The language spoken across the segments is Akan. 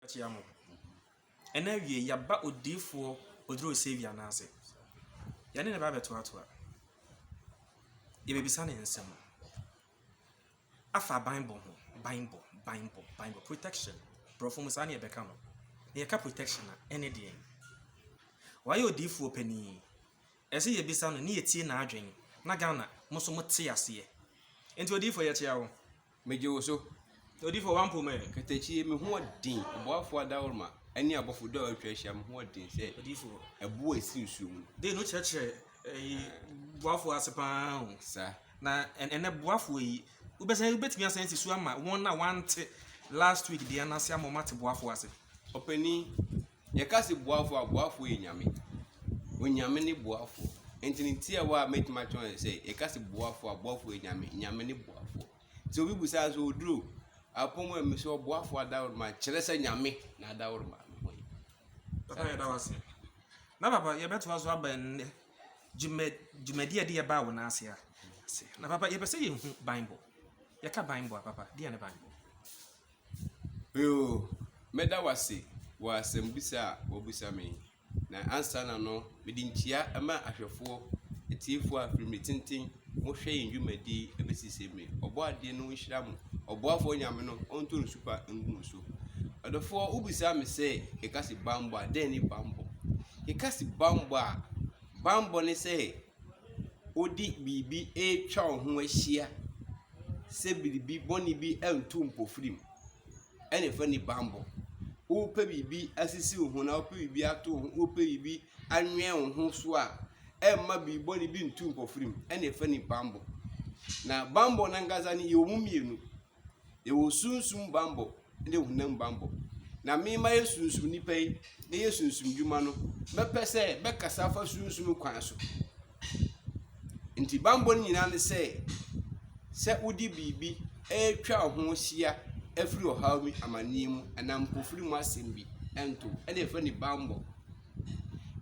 Akyea mo. Ɛna awiei yɛaba odiyifoɔ Oduro Saviour no ase. Yɛne ne ba bɛtoatoa. Yɛbɛbisa ne nsɛm. Afa banbɔ ho. Banbɔ, banbɔ, banbɔ. Protection. Borɔfo mu saa ne yɛbɛka no. Na yɛka protection a, ɛne deɛn? Wayɛ odiyifoɔ panin. Ɛsɛ yɛbisa no ne yɛtie n'adwene. Na Ghana, mo nso mote aseɛ. Nti odiyifoɔ yɛkyea wo. Megye wo so. Odiyifo a wampo me. Katakyi yɛ me ho ɔden. Ɔboafo adaworoma ne abɔfo du a wɔatwa ahyia me ho ɔden sɛ odiyifo. Ɛbo a ɛsen nsuo mu no. Dee no kyerɛkyerɛ ɛyi boafo ase paa o. Sa. Na ɛnɛ boafo yi wobɛsɛ wobɛtumi asan asi so ama wɔn a wɔante last week deɛ no ase ama wɔn ate boafo ase. Ɔpanin. Yɛka se boafoɔ a, boafoɔ yɛ Nyame. Onyame ne boafoɔ. Nti ne tiawa a mɛtumi akyerɛ wɔn sɛ, yɛka se boafoɔ a, boafoɔ yɛ Nyame. Nyame ne boafoɔ. Nti obi bu saa sɛ, oduro, apɔm a mi so ɔboafoɔ adaworoma, kyerɛ sɛ Nyame na adaworoma me ho yi. Papa yɛda wo ase. Na papa yɛbɛtoa so aba nnɛ dwuma dwumadi a ɛde yɛbaa wo nan ase a. Na papa yɛpɛ sɛ yɛhu Bible. Yɛka Bible a papa, deɛ ne Bible? Yoo, mɛda wo ase wɔ asɛmbisa a wabisa me yi, na ansaana no mede nkyia ma ahwɛfoɔ, atiefoɔ a firi mmerɛ tenten mo hwɛ yɛn dwumadie yi ɛbɛsi sɛ mmerɛ yi. Ɔbɔadeɛ no nhyira mo, ɔboafoɔ Nyame no ɔntɔ nsu pa ngu mo so. Ɔdɔfoɔ wo bisa me sɛ yɛka se banbɔ a dɛn ne banbɔ? Yɛka se banbɔ a, banbɔ ne sɛ wode biribi retwa wo ho ahyia sɛ biribi bɔne bi antu mpofirim na ɛfa ne bammɔ. Wopɛ biribi asisi wo ho anaa wopɛ biribi ato wo ho wopɛ biribi anwɛn wo ho so a, ɛmma biribi bɔne bi ntu mpofirim na ɛfa ne bammɔ. Na bammɔ no ankasa no, yɛwɔ mu mmienu. Yɛwɔ sunsum bambɔ ne honam bambɔ. Na me mayɛ sunsum nipa yi meyɛ sunsum dwuma no, mɛpɛ sɛ mɛkasa afa sunsum kwan so. Nti bambɔ no nyinaa ne sɛ, sɛ wode biribi ɛretwa wo ho hyia afiri ɔhaw bi, amanneɛ mu anaa mpofirim mu asɛm bi nto wo. Ɛna yɛfrɛ no bambɔ.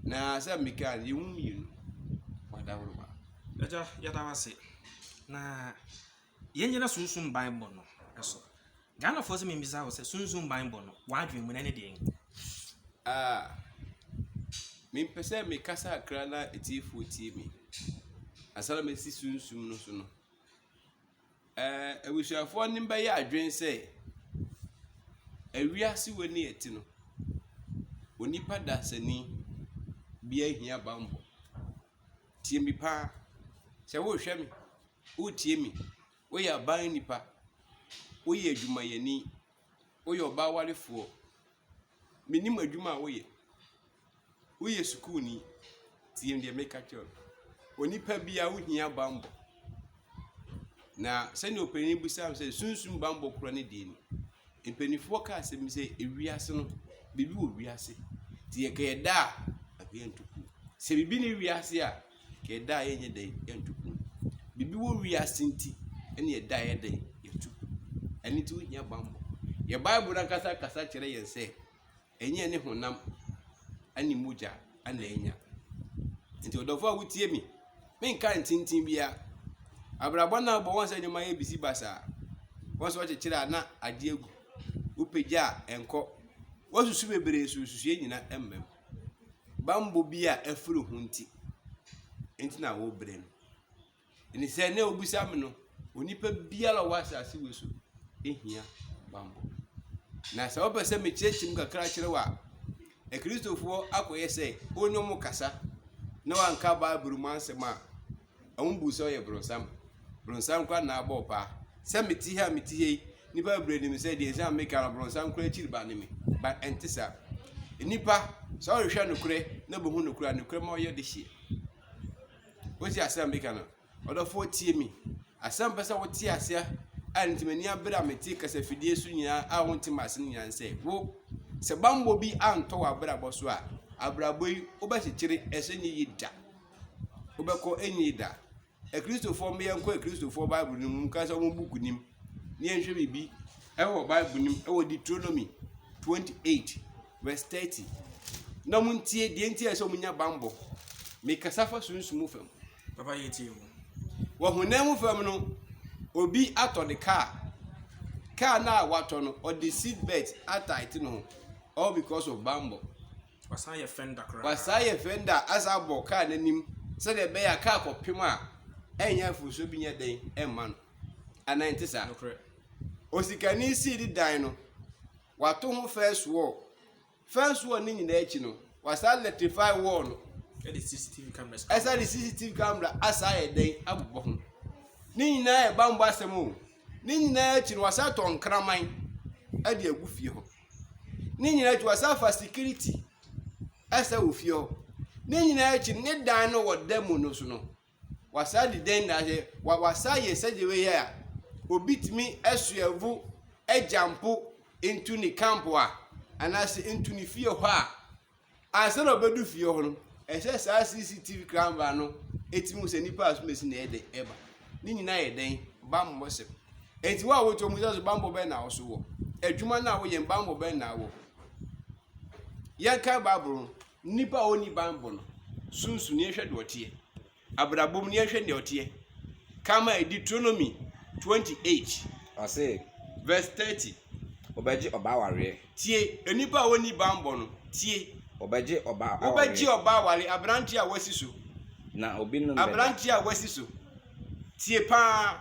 Na sɛ mekaa no, yɛmu mmienu. Wadaworo ba. Agya, yɛda wo ase. Na Yɛnnyina sunsum banbɔ no so. Ghanafoɔ sɛ membisa wo sɛ sunsum banbɔ no w'adwen mu no ɛne deɛn? Ah, mempɛ sɛ mekasa akra na atiefoɔ tie me. Ansa na masi sunsum no so no, eh, abusuafoɔ no bɛyɛ adwene sɛ awiase wɔ ni ɛte no, onipa dasani bi ahia banbɔ. Tie me paa, sɛ worehwɛ me Woretie me. Woyɛ aban nipa. Woyɛ adwumayɛni. Woyɛ ɔbaa warefoɔ. Menim adwuma a woyɛ. Woyɛ sukuuni. Tie deɛ meka kyerɛ wo. Onipa biara wohia bammɔ. Na sɛdeɛ ɔpanin bisaa me sɛ sunsum bammɔ korɔ ne deɛ ni. Mpanimfoɔ ka asɛm bi sɛ ewiase no biribi wɔ wiase. Nti yɛkɛyɛ da a anka yɛntu kuo. Sɛ biribi ne wiase a Yɛda a yɛnyɛ dɛ yɛnto pon. Biribi wɔ wiase nti na yɛda a yɛyɛ dɛ yɛto pon. Ɛno nti wohia bammɔ. Yɛn Bible no ankasa kasa kyerɛ yɛn sɛ ɛnyɛ ne honam ne mogya na anya. Nti ɔdɔfo a wotie me, menka ntintin bia. Abrabɔ no a wobɔ wɔn sɛ nneɛma yɛ bisi basaa. Wɔn sɛ wɔkyekyere a na adeɛ agu. Wopagya a ɛnkɔ. Woasusu bebree so nsusuiɛ nyina mmam. bammɔ bi a afiri ho nti nti na wɔrebrɛ no. Ɛne sɛ na wobisa me no, onipa biara a ɔwɔ asase wei so hia bammɔ. Na sɛ wopɛ sɛ mekyerɛkyerɛ mu kakra kyerɛ wo a, akristofoɔ akɔyɛ sɛ wɔne wɔn kasa na wɔanka Bible mu asɛm a, Wɔn buu sɛ ɔyɛ bronsam. Bronsam koraa na abɔ paa. Sɛ me ti ha a me ti ha yi, nnipa bebree nim sɛ deɛ nsɛm a meka no bronsam koraa akyiri ba ne me. Ba ɛnte saa. Nnipa, sɛ ɔrehwɛ nokorɛ na bɛhu nokorɛ a, nokorɛ ma ɔyɛ de hyeɛ. Wote asɛm a meka no? Ɔdɔfoɔ tie mi. Asɛm pɛ sɛ wote aseɛ a nti m'ani abere a mete kasafidie so nyinaa a wonte m'ase no nyinaa sɛ wo sɛ bammɔ bi antɔ w'abrabɔ so a abrabɔ yi wobɛkyekyere ɛsɛ nyɛ yi da. wobɛkɔ ɛnni da. Akristofoɔ mma yɛnkɔ Akristofoɔ Bible no mu ka sɛ wɔn buku nim ne yɛnhwɛ biribi ɛwɔ Bible nim ɛwɔ Deuteronomy 28 verse 30 na wɔn ntie deɛ nti a ɛsɛ wɔn nya bambɔ mekasa fa sunsun mu fam. Papa yɛ tie mu. Wɔ honam mu fam no obi atɔ ne kaa kaa no a watɔ no ɔde seat belt atae te ne ho all because of bambɔ. Wasan yɛ fender koraa. Wasan yɛ fender asan abɔ kaa n'anim sɛdeɛ ɛbɛyɛ a kaa kɔpem a ɛnyɛ mfomsoɔ bi nyɛ dɛn ɛmma no. Anaa nte saa? Nokorɛ. Osikani sii ne dan no, wato ho first wall. First wall ne nyinaa akyi no, wasan electrify wall no. Ɛde CCTV cameras. Ɛsan de CCTV camera asan ayɛ dɛn abobɔ ho. Ne nyinaa yɛ bammɔ asɛm o. Ne nyinaa akyi no, wasan tɔ nkraman ɛde agu fie hɔ. ne nyinaa akyi wɔsan fa security ɛsɛ wɔ fie hɔ ne nyinaa akyi ne dan no wɔ dan mu no so no wɔsan de dan nyinaa yɛ wɔsan yɛ sɛdeɛ wɔyɛ a obi tumi ɛsoɛvo agyampo ntu ne camp a anaasɛ ntu ne fie hɔ a. Ansa na ɔbɛdu fie hɔ no, ɛsɛ saa CCTV kranbaa no tumi hu sɛ nipa a asomasi na ɛyɛ dɛ ɛba. Ne nyinaa yɛ dɛn? Bammɔ sɛm. Enti wo a wote wɔn nsa so bammɔ bɛn na woso wɔ? Adwuma no a woyɛ bammɔ bɛn na wɔ? Yɛnkan Bible no, nipa a ɔnni bammɔ no, sunsum yɛnhwɛ deɛ ɔteɛ. abrabɔ mu na yɛnhwɛ nea ɔteɛ. Kan ma Deuteronomy 28. Ɔse. Verse 30. Wobɛgye ɔba awareɛ. Tie, nnipa a wɔnni banbɔ no, tie. Wobɛgye ɔba awareɛ. Wobɛgye ɔba awareɛ, aberanteɛ a wasi so. Na obinom bɛda. Aberanteɛ a wasi so. Tie paa,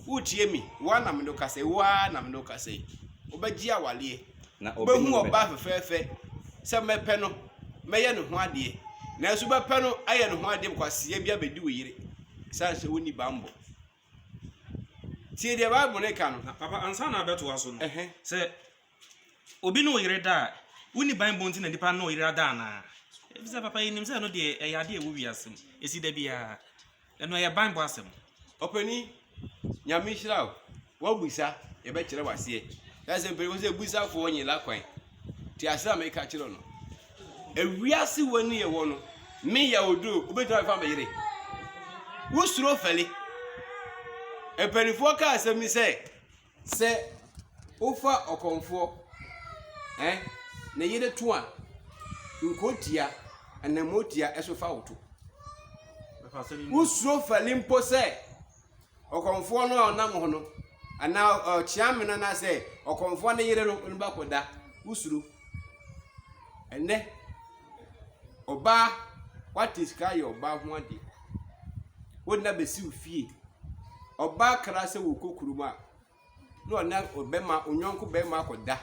wotie me, wo ara na me ne wo kasa yi, wo ara na me ne wo kasa yi. Wobɛgye awareɛ. Wobɛhu ɔbaa fɛfɛɛfɛ sɛ mɛpɛ no mɛyɛ ne ho adeɛ nanso wobɛpɛ no ayɛ ne ho adeɛ bkwaseɛ bi abɛdi wo yere sane sɛ wonni bammɔ tie deɛ bible no ka no papa ansa na abɛtoa so no sɛ obi ne wo yere da a wonni bammɔ nti na nipa ne wo yere ada anaa ɛfisɛ papa yɛnim sɛ ɛno deɛ ɛyɛ adeɛ ɛwɔ wiase mu ɛsi da biara Ɛno ɛyɛ banbɔ asɛm. Ɔpanin Nyame nhyira wo. W'abisa yɛbɛkyerɛ wo aseɛ. That's why mpanyinfoɔ sɛ abusafoɔ nye la kwan. Te aseɛ a meka kyerɛ no. Ewiase wɔ ne yɛwɔ no, me yɛ oduro, wobɛtumi afa me yere. Wosuro fɛle. Mpanyinfoɔ ka asɛm bi sɛ, Sɛ wofa ɔkɔmfoɔ, ɛ, ne yere to a, nkurotia, anammuotia so fa wo to. Wosuro fali mpo sɛ ɔkɔmfoɔ no a ɔnam hɔ no, anaa ɔkyeamena anaasɛ ɔkɔmfoɔ ne yere no, ɔno bɛkɔda. Wosuro. Ɛnɛ, Ɔbaa, woate sika ayɛ ɔbaa ho ade. Wo nna bɛsi wo fie. Ɔbaa kra sɛ wokɔ kurom a, na ɔne ɔbɛma, onyɔnko bɛma akɔda.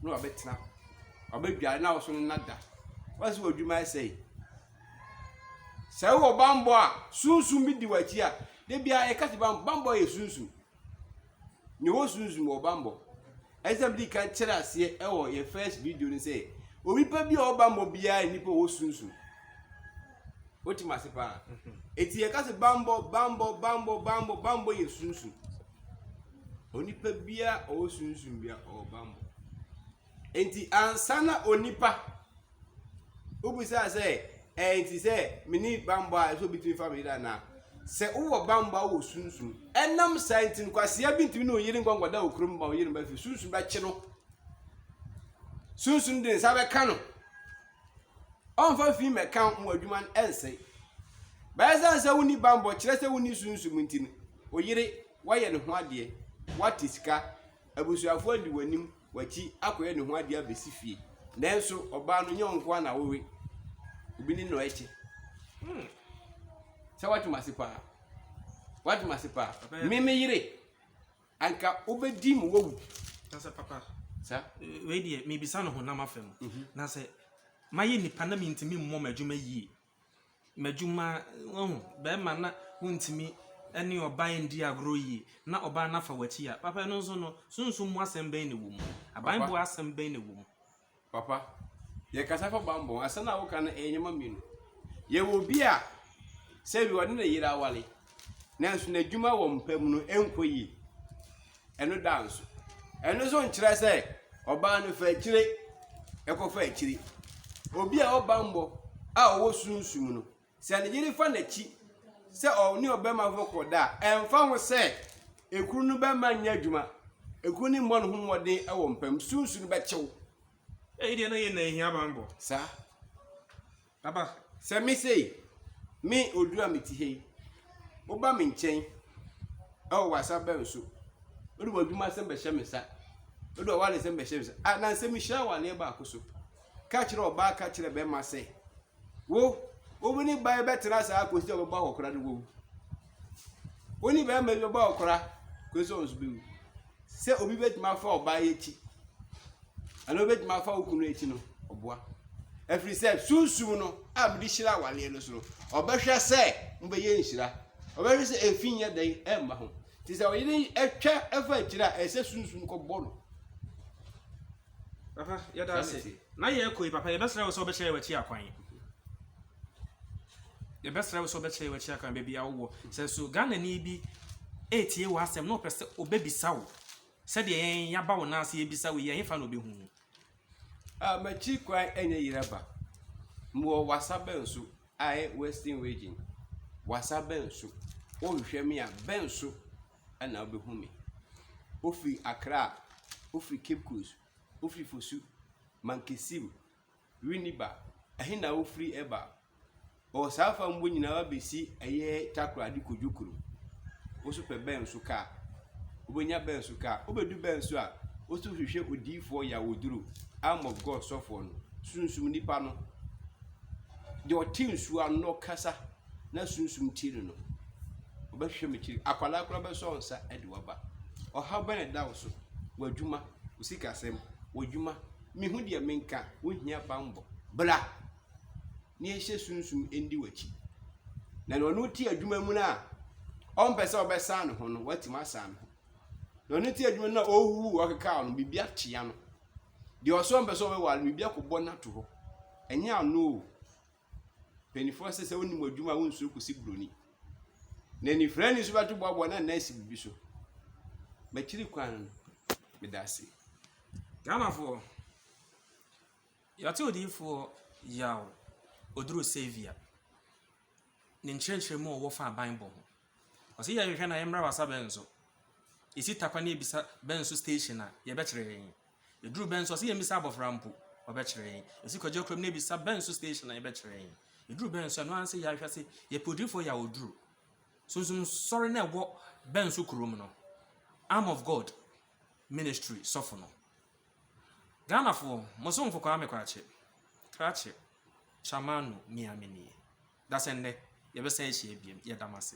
Na wabɛtena. Wabɛdware na ɔso no na da. Wasi wɔ adwuma ɛsɛe. Sɛ wowɔ bambɔ a, sunsum bi di w'akyi a, da biara yɛka sɛ bambɔ yɛ sunsum. Ne wɔ sunsum wɔ bambɔ. Ɛsɛ mede kan kyerɛ aseɛ ɛwɔ yɛ first video no sɛ onipa bi a ɔwɔ bambɔ biara yɛ nipa ɔwɔ sunsum. Wote mase paa. Eti yɛka sɛ bambɔ bambɔ bambɔ bambɔ bambɔ yɛ sunsum. Onipa biara ɔwɔ sunsum biara ɔwɔ bambɔ. Enti ansa na onipa wobisa sɛ ɛɛ nti sɛ meni bammɔ a ɛsɛ obi tumi fa me yere anaa sɛ wowɔ bammɔ a wowɔ sunsum ɛnam saa nti no kwasea bi ntumi ne oyere nkɔ nkɔda wɔ kurom ma oyere mba fi sunsum bɛkye no sunsum de nsa bɛka no ɔmfa fi mmɛka mo adwuma no ɛnsɛe bɛyɛ sɛ sɛ wonni bammɔ kyerɛ sɛ wonni sunsum nti no oyere wayɛ ne ho adeɛ wate sika abusuafoɔ adi w'anim w'akyi akɔyɛ ne ho adeɛ abɛsi fie nanso ɔbaa no nyɛ wo nkoa na wowe obi ne na ɛhyɛ hmm. sɛ woatem ase paa woatem ase paa me me yere anka wobɛdi mu wawu sɛ papa sa wei deɛ mebisa no honam afam mhm. na sɛ mayɛ nipa na mentumi mmɔ m'adwuma yie m'adwuma, wahu, bɛrima na wontumi ne ɔbaa nni agorɔ yie na ɔbaa no afa w'akyi a, papa ɛno nso no, sunsum mu asɛm bɛn na ɛwɔ mu? Abammɔ asɛm bɛn na ɛwɔ mu? Papa, yɛkasa fa bammɔ, asɛm a woka no ɛyɛ nneɛma mmienu. Yɛwɔ obi a sɛ bi ɔne ne yere aware, nanso n'adwuma wɔ mpa mu no nkɔ yie. Ɛno da nso. Ɛno nso nkyerɛ sɛ ɔbaa no fa akyire ɛkɔfa akyire. Obi a ɔba mmɔ a ɔwɔ sunsum no, sɛ ne yere fa n'akyi sɛ ɔne ɔbɛma fo kɔ da a, ɛmfa ho sɛ ekuru no bɛma nyɛ adwuma, ekuru no mmɔ ne ho mmɔden wɔ mpa mu, sunsum no bɛkyew. Eyi deɛ na yɛ na ehia bammɔ. Saa. Aba, sɛ me sei, me Odu a mete ha yi, woba me nkyɛn wɔ w'asabɛn so, wode w'adwuma asɛm bɛhyɛ me nsa, wode w'awale asɛm bɛhyɛ me nsa. A, na sɛ mehyia awaleɛ baako so. Ka kyerɛ ɔbaa, ka kyerɛ bɛrima sɛ, wo, wo ne bae bɛtena saa akɔsi sɛ ɔbɛba hɔ koraa na wawu. wo ne bɛrima bi bɛbɔ akora kɔsi sɛ ɔnso bɛwu sɛ obi bɛtumi afa ɔbaa yi akyi anaa obɛtumi afa wo kunu akyi no ɔboa ɛfiri sɛ sunsum no a mede hyira awaleɛ no so no ɔbɛhwɛ sɛ mobɛyɛ nhyira ɔbɛhwɛ sɛ ɛfi nyɛ dɛn ɛmma ho nti sɛ ɔyere ɛtwa ɛfa akyiri a ɛsɛ sunsum kɔbɔ no papa yɛda ase na yɛkɔ yi papa yɛbɛsrɛ wo sɛ wobɛkyerɛ yɛwakyi akwan Yɛbɛsrɛ wo sɛ wobɛkyerɛ yɛn w'akyi akwan baabi a wowɔ. Sɛ nso Ghanani bi retie w'asɛm na ɔpɛ sɛ ɔbɛbisa wo sɛdeɛ yɛn yɛaba wo nan ase yɛbisa wo yi, ɛhefa na ɔbɛhu wo? Ah, m'akyi kwan ɛnyɛ Yeraba. Mewɔ Wassa Benso, Ae Western Region. Wassa Benso. Wohwehwɛ me a, Benso ɛna wobɛhu me. Wofiri Accra, wofiri Cape Coast, wofiri Fosu, Mankesim, Winni ba, ɛhe na wofiri ba? Ɔwɔ saa fa mbɔ nyinaa wabɛsi ɛyɛ takoradi kodwo kuro. Woso pɛ bɛn so kaa? Wobɛnya bɛn so kaa? Wobɛdu bɛn so a? Woso hwehwɛ odiifoɔ yawoduro, arm of God sɔfoɔ no, sunsum nipa no, deɛ ɔte nsuo ano na ɔkasa na sunsum tie no no. Wobɛhwehwɛ me kyiri. Akwadaa koraa bɛsɔ nsa de waba. Ɔhaw bɛn na ɛda wo so? W'adwuma, wo sikasɛm, w'adwuma, Mehu deɛ menka, wohia banbɔ. Bra ne yɛnhyɛ sunsum ndi w'akyi. Na nea ɔno te adwuma mu no a ɔmpɛ sɛ ɔbɛsan ne ho no, watumi asan ne ho. Nea ɔno te adwuma no a ɔrehuhu ɔkekaw no, biribi akyea no. Deɛ ɔso ɔmpɛ sɛ ɔbɛware no, biribi akɔbɔ no ato hɔ. Ɛnyɛ ano o. Mpanimfoɔ se sɛ wonni mo adwuma a wonsuro kɔsi buroni. Na anifirani nso bɛto boaboa na nna asi biribi so. Makyiri kwan no, meda ase. Ghanafoɔ, yɛate odiyifoɔ Yaw Oduro Saviour ne nkyerɛkyerɛmu a ɔwɔ fa aban bɔ ho. Ɔse yɛ hwehwɛ na yɛ mmra wasa bɛn so. Esi takwa ne ebisa bɛn so station a yɛ bɛ kyerɛ yɛn. Eduru bɛn so ɔse yɛ mmisa abɔfra mpo ɔbɛ kyerɛ yɛn. Esi kwaji akurom ne ebisa bɛn so station a yɛ bɛ kyerɛ yɛn. Eduru bɛn so ɛno ara nse yɛ ahwɛ se yɛ pɛ odiyifoɔ yɛ a ɔduru. Sunsum sɔre no ɛwɔ bɛn so kurom no. Arm of God ministry sɔfo no. Ghanafoɔ mo so nkokwaa me kwakye, krakye, Tchamanu, Mia me nie. Dasɛ nnɛ yɛ bɛ san ahyia biam. Yɛ da mo ase.